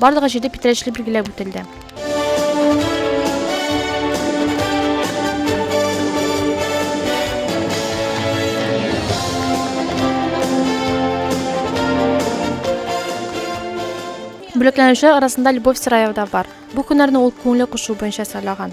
Барлыгы җиде питрәчле билгеләп үтелде. Бүләкләнүчеләр арасында Любовь Сыраева да бар. Бу һөнәрне ул күңеле кушуы буенча сайлаган.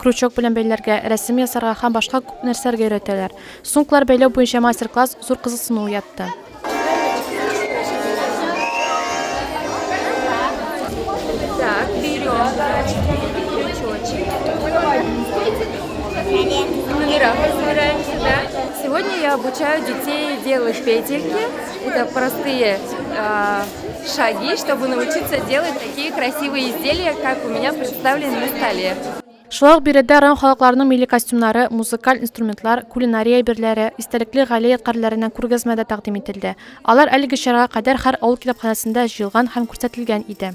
Крючок белән бәйләргә, рәсем ясарга һәм башка күп нәрсәләргә өйрәтәләр. Суңклар бәйләү буенча мастер-класс зур кызыксыну уятты. шаги, чтобы научиться делать такие красивые изделия, как у меня представлены на столе. Шулай ук биредә район халыкларының милли костюмнары, музыкаль инструментлар, кулинария әйберләре, истәлекле гаилә ядкарьләреннән күргәзмә дә тәкъдим ителде. Алар әлеге чарага кадәр һәр авыл китапханәсендә җыелган һәм күрсәтелгән иде.